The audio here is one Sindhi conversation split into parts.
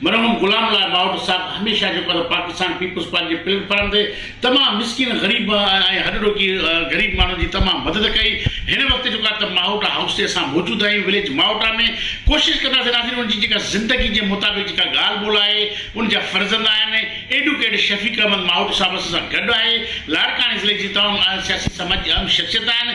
مرحوم غلام الله ٻاهوٽ صاحب هميشه جيڪو ته پاڪستان پيپلز پارٽي جي پليٽ فارم تي تمام مسڪين غريب ۽ هڏ ڏوڪي غريب ماڻهن جي تمام مدد ڪئي هن وقت جيڪو ته ماهوٽا هائوس تي اسان موجود آهيون وليج ماهوٽا ۾ ڪوشش ڪنداسين ناظرين ان جي جيڪا زندگي جي مطابق جيڪا ڳالهه ٻولهه آهي ان جا فرزند آهن ايڊوڪيٽ شفيق احمد ماهوٽ صاحب اسان سان گڏ آهي لاڙڪاڻي ضلعي جي تمام سياسي سماجي اهم شخصيت آهن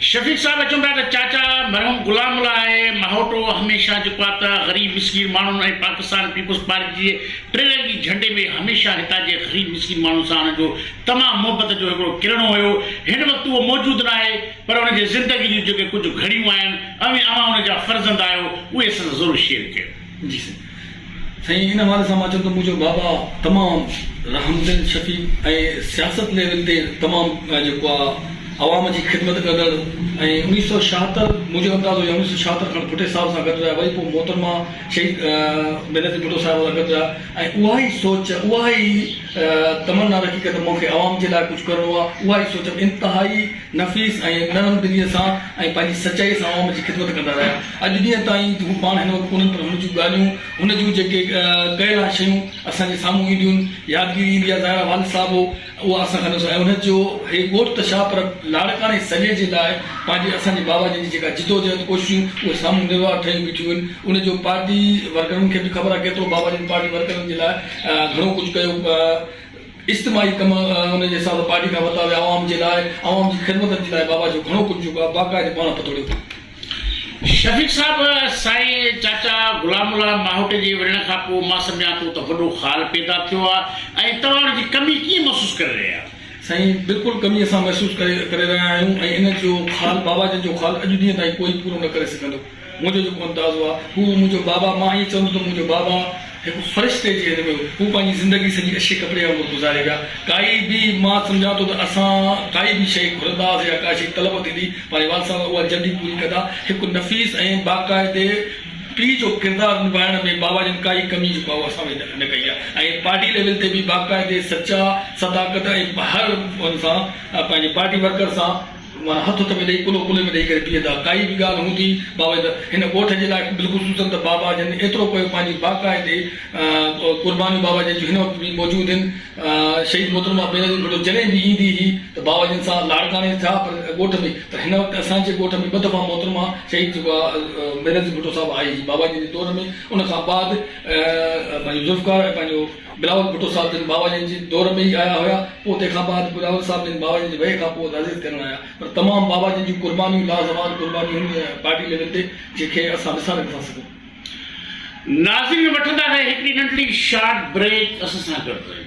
شفيق صاحب اچون پيا ته چاچا مرحوم غلام الله آهي ماهوٽو هميشه جيڪو آ ته غريب مسڪين ماڻهن ۽ پاڪستان پيپلز پارٽي جي ٽي رنگي جهنڊي ۾ هميشه هتان جي غريب مسڪين ماڻهن سان هن جو تمام محبت جو هڪڙو ڪرڻو هيو هن وقت اهو موجود ناهي پر هن جي زندگي جون جيڪي ڪجهه گهڙيون آهن اوهين اوهان هن جا فرزند آهيو اهي سندس ضرور شيئر ڪيو. جي سائين سائين ان حوالي سان مان چوندم منهنجو بابا تمام رحم دل شفيق ۽ سياست ليول تي تمام جيڪو آ عوام جي خدمت ڪندڙ ۽ انيس سؤ ڇاهتر منهنجو اندازو يا انيس سؤ ڇاهتر کان ڀٽي صاحب سان گڏ رهيا وري پوء محترمه شهيد بينظير ڀٽو صاحبه سان گڏ رهيا ۽ اها ئي سوچ اها ئي تمنا رکي ڪري ته مون کي عوام جي لاء ڪجهه ڪرڻو آ اها ئي سوچ انتهائي نفيس ۽ نرم دلي سان ۽ پنهنجي سچائي سان عوام جي خدمت ڪندا رهيا اڄ ڏينهن تائين هو پاڻ هن وقت ڪونهن پر هن جون ڳالهيون، هن جون جيڪي ڪيل آهن شيون اسان جي سامهون اينديون، يادگيري ايندي آهي، ظاهرا والد صاحب هو اها اسان کان نسو ۽ هن جو هي ڳوٺ ته ڇا پر لاڙڪاڻي سڄي جي لاء پنهنجي اسان جي بابا جن جي جيڪا جدوجهد ڪوششون اهي سامهون نروار ٺهيون بيٺيون هين ان جو پارٽي ورڪرن کي به خبر آهي ڪيترو بابا جن پارٽي ورڪرن جي لاء گهڻو ڪجهه ڪيو اجتماعي ڪم ان جي حساب سان پارٽي کان ورتا ويا عوام جي لاء عوام جي خدمتن جي لاء بابا جو گهڻو ڪجهه جيڪو آهي باقاعدي پاڻ پتوڙيو هو. شفيق صاحب، سائين چاچا غلام الله ماهوٽي جي ورڻ کان پوء مان سمجهان ٿو ته وڏو خال پيدا ٿيو آهي ۽ توهان ان جي ڪمي ڪيئن محسوس ڪري رهيا آهيو؟ سائين بلڪل ڪمي اسان محسوس ڪري رهيا آهيون ۽ ان جو خال بابا جن جو خال اڄ ڏينهن تائين ڪوئي پورو نه ڪري سگهندو. منهنجو جيڪو اندازو آهي هو منهنجو بابا مان ائين چوندو ته منهنجو بابا، هڪ فرشتي جي هنڌ ۾ هو پنهنجي زندگي سڄي اشي ڪپڙي وانگر گذاري ويا. ڪائي به مان سمجهان ٿو ته اسان ڪائي به شيء گهرنداس يا ڪا شيء طلب ٿيندي پنهنجي والد صاحب اها جلدي پوري ڪندا. هڪ نفيس ۽ باقاعدي پيء جو ڪردار نڀائڻ ۾ بابا جن ڪائي ڪمي جي ڪواه اسان ۾ نه ڪئي آهي ۽ پارٽي ليول تي به باقاعدي سچا صداقت ۽ هر ان سان پنهنجي پارٽي ورڪر سان معنيٰ هٿ هٿ ۾ ڏئي، ڪلهو ڪلهي ۾ ڏئي ڪري پيئندا. ڪائي به ڳالهه هوندي باوي ته هن ڳوٺ جي لاء بالخصوصن ته بابا جن ايترو ڪيو پنهنجي باقاعدي قربانيون باوا جن جون هن وقت به موجود هن شهيد محترمه بينظير ڀٽو جڏهن به ايندي هئي ته باوا جن سان لاڙڪاڻي ٿيا پر ڳوٺ ۾ پر هن وقت اسان جي ڳوٺ ۾ ٻه دفعا محترمه شهيد جيڪو آ بينظير ڀٽو صاحب آئي هئي باوا جن جي دور ۾ ان کان بعد پنهنجو ذوالفقار ۽ پنهنجو بلاول ڀٽو صاحب جن بابا جن جي دور ۾ ئي آيا هيا پوء تنهن کان بعد بلاول صاحب جن بابا جن جي ويهه کان پوء تعزيت ڪرڻ آيا پر تمام بابا جن جون قربانيون لازوال قربانيون هن پارٽي ليول تي جنهن کي اسان وساري نٿا سگهون. ناظرين وٺندا رهي هڪڙي ننڍڙي شارٽ بريڪ اسان سان گڏ رهيو.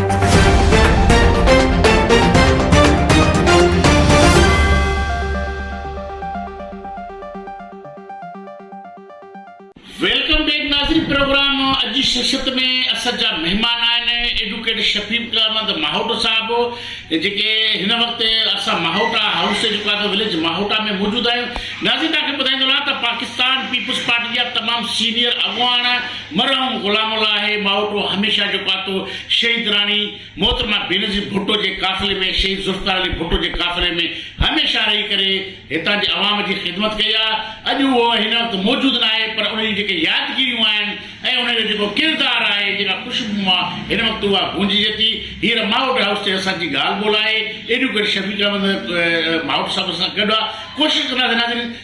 ويلڪم بيڪ ناظرين پروگرام اڄ جي شخصيت ۾ اسد جا مهمان آهن ايڊوڪيٽ شفيق احمد ماهوٽو صاحب جيڪي هن وقت اسان ماهوٽا هائوس جيڪو آهي وليج ماهوٽا ۾ موجود آهيون ناظرين توهان کي ٻڌائيندو رهان ته پاڪستان پيپلز پارٽي جا تمام سينيئر اڳواڻ مرحوم غلام الله ماوٽو هميشه جو پاتو شهيد راڻي محترمه بينظير ڀٽو جي قافلي ۾ شهيد ذوالفقار علي ڀٽو جي قافلي ۾ هميشه رهي ڪري هتان جي عوام جي خدمت ڪئي آ اڄ اهو هن وقت موجود ناهي پر ان جون جيڪي يادگيريون آهن ۽ ان جو جيڪو ڪردار آهي جيڪا خوشبو مان هن وقت اها گونججي ٿي هينئر ماوٽ هائوس تي اسان جي ڳالهه ٻولهه آهي ايڊوڪيٽ شفيق احمد ماوٽ صاحب سان گڏ آ ڪوشش ڪنداسين ناظرين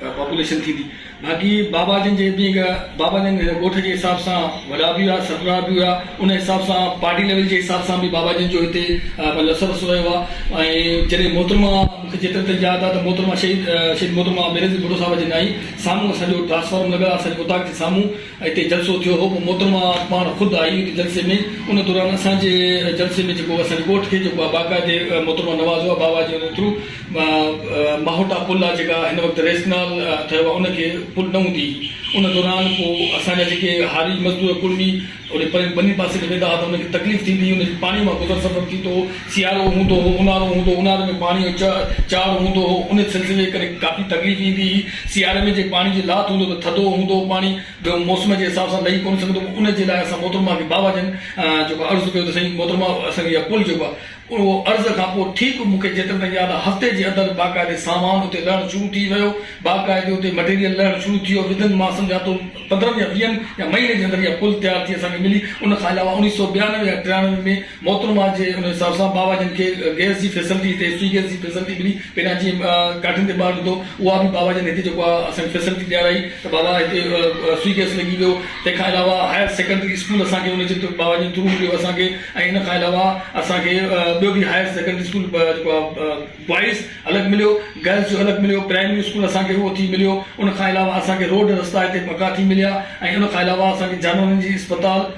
پاپوليشن ٿيندي باقي بابا جن جي جيئن بابا جن ڳوٺ جي حساب سان وڏا به هئا سربراهه به هئا ان حساب سان پارٽي ليول جي حساب سان به بابا جن جو هتي لس رس رهيو آهي ۽ جڏهن محترمه مون کي جيترو تائين ياد آهي ته محترمه شهيد شهيد محترمه بينظير ڀٽو صاحب جي نائين سامهون اسان جو ٽرانسفارم لڳل آهي اسان جي اوطاق جي سامهون اتي جلسو ٿيو هو پوء محترمه پاڻ خود آئي ان جلسي ۾ ان دوران اسان جي جلسي ۾ جيڪو اسان جي ڳوٺ کي جيڪو آ باقاعدي محترمه نوازو آ باوا جي ان ٿرو ماهوٽا پل آ جيڪا هن وقت ريس ڪئنال ٺهيو آ ان کي پل نه هوندي ان دوران پوء اسان جا جيڪي هاري مزدور ڪڙمي اڏي پرين ٻني پاسي ڏي ويندا ها ته ان کي تڪليف ٿيندي هئي ان جي پاڻي مان گذر سفر ٿيندو هو سيارو هوندو هو اونهارو هوندو اونهاري ۾ پاڻي جو چاڙهه هوندو هو ان سلسلي ڪري ڪافي تڪليف ايندي هئي سياري ۾ جي پاڻي جي لاٿ هوندو ته ٿڌو هوندو پاڻي ٻيو موسم جي حساب سان لهي ڪونه سگهندو ان جي لاء اسان محترمه کي بابا جن جيڪو عرض ڪيو ته سائين محترمه اسان کي اها پل جيڪو آهي اهو عرض کان پوء ٺيڪ مون کي جيتري تائين ياد آهي هفتي جي اندر باقاعدي سامان اتي لهڻ شروع ٿي ويو باقاعدي اتي مٽيريل لهڻ شروع ٿي ويو ودن مان سمجهان ٿو پندرهن يا ويهن يا مهيني جي اندر اها پل تيار ٿي اسان کي ملي ان کان علاوه اڻيهه سؤ ٻيانوي يا ٽيانوي ۾ محترمه جي ان حساب سان بابا جن کي گئس جي فيسلٽي هتي فري گئس جي فيسلٽي ملي پهرين اچي ڪاٺين تي ٻار لڌو اها به بابا جن هتي جيڪو آهي اسان کي فيسلٽي ڏيارائي ته بابا هتي فري گئس لڳي ويو تنهن کان علاوه هائر سيڪنڊري اسڪول اسان کي ان جي بابا جن ٿرو مليو اسان کي ۽ ان کان علاوه اسان کي ٻيو به هائر سيڪنڊري اسڪول جيڪو آهي بوائز الڳ مليو گرلس جو الڳ مليو پرائمري اسڪول اسان کي اهو ٿي مليو ان کان علاوه اسان کي روڊ رستا هتي پڪا ٿي مليا ۽ ان کان علاوه اسان کي جانورن جي اسپتال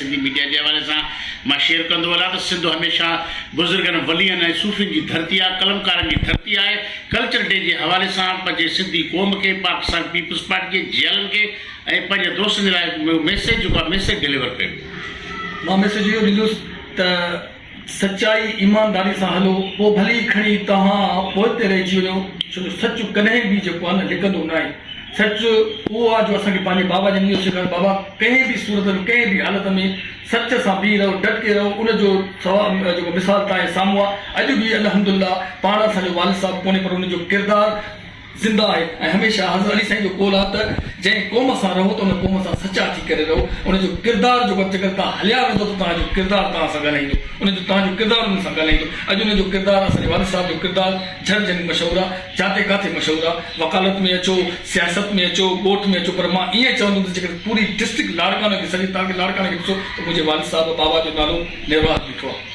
سنڌي ميڊيا جي حوالي سان مان شيئر ڪندو هلان ته سنڌ هميشه بزرگن، ولين ۽ صوفين جي ڌرتي آهي، قلمڪارن جي ڌرتي آهي. ڪلچر ڊي جي حوالي سان پنهنجي سنڌي قوم کي، پاڪستان پيپلز پارٽي جي جي ايلن کي ۽ پنهنجي دوستن جي لاء ميسيج جيڪو آهي ميسيج ڊليور ڪيو ويو. مان ميسيج اهو ڏيندس ته. سچائي ايمانداري سان هلو پوء ڀلي ئي کڻي توهان پوئتي رهجي وڃو ڇو جو سچ ڪڏهن به جيڪو آهي نه لڪندو ناهي سچ اهو آهي جو اسان کي پنهنجي بابا جن اهو سيکاريو بابا ڪنهن به صورت ۾ ڪنهن به حالت ۾ سچ سان بيهي رهو ڊٽ ڪي رهو ان جو جيڪو مثال تنهنجي سامهون آهي اڄ به الحمدالله پاڻ اسان جو والد صاحب ڪونهي پر ان جو ڪردار زنده آهي ۽ هميشه حضرت علي سائين جو قول آهي ته جنهن قوم سان رهو ته ان قوم سان سچا ٿي ڪري رهو ان جو ڪردار جيڪو جيڪڏهن توهان هليا ويندو ته توهان جو ڪردار توهان سان ڳالهائيندو ان جو توهان جو ڪردار انهن سان ڳالهائيندو اڄ ان جو ڪردار اسان جي والد صاحب جو ڪردار جھر جھرين مشهور آهي جاتي ڪاتي مشهور آهي وڪالت ۾ اچو سياست ۾ اچو ڳوٺ ۾ اچو پر مان ائين چوندم ته جيڪڏهن پوري ڊسٽرڪٽ لاڙڪاڻو کي سڏي تاڪي لاڙڪاڻي کي ڏسو ته منهنجي والد صاحب بابا جو نالو نروار بيٺو آهي.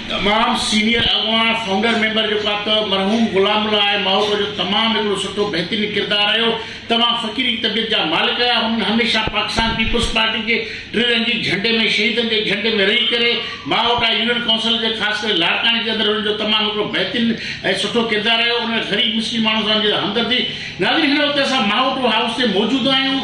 تمام سينيئر اڳواڻ فائونڊر ميمبر جو ڪا ته مرحوم غلام الله آء ماهوٽ جو تمام هڪڙو سٺو بهترين ڪردار رهيو توهان فقيري طبيعت جا مالڪ هيا هنن هميشه پاڪستان پيپلز پارٽي جي ٽي رنگي جهنڊي ۾ شهيدن جي جهنڊي ۾ رهي ڪري ماهوٽ آء يونين ڪائونسل جي خاص ڪري لاڙڪاڻي جي اندر هنن جو تمام هڪڙو بهترين ۽ سٺو ڪردار رهيو انهن غريب مسڪين ماڻهن سان جي همدردي ناظرين هن وقت اسان ماهوٽ هائوس تي موجود آهيون.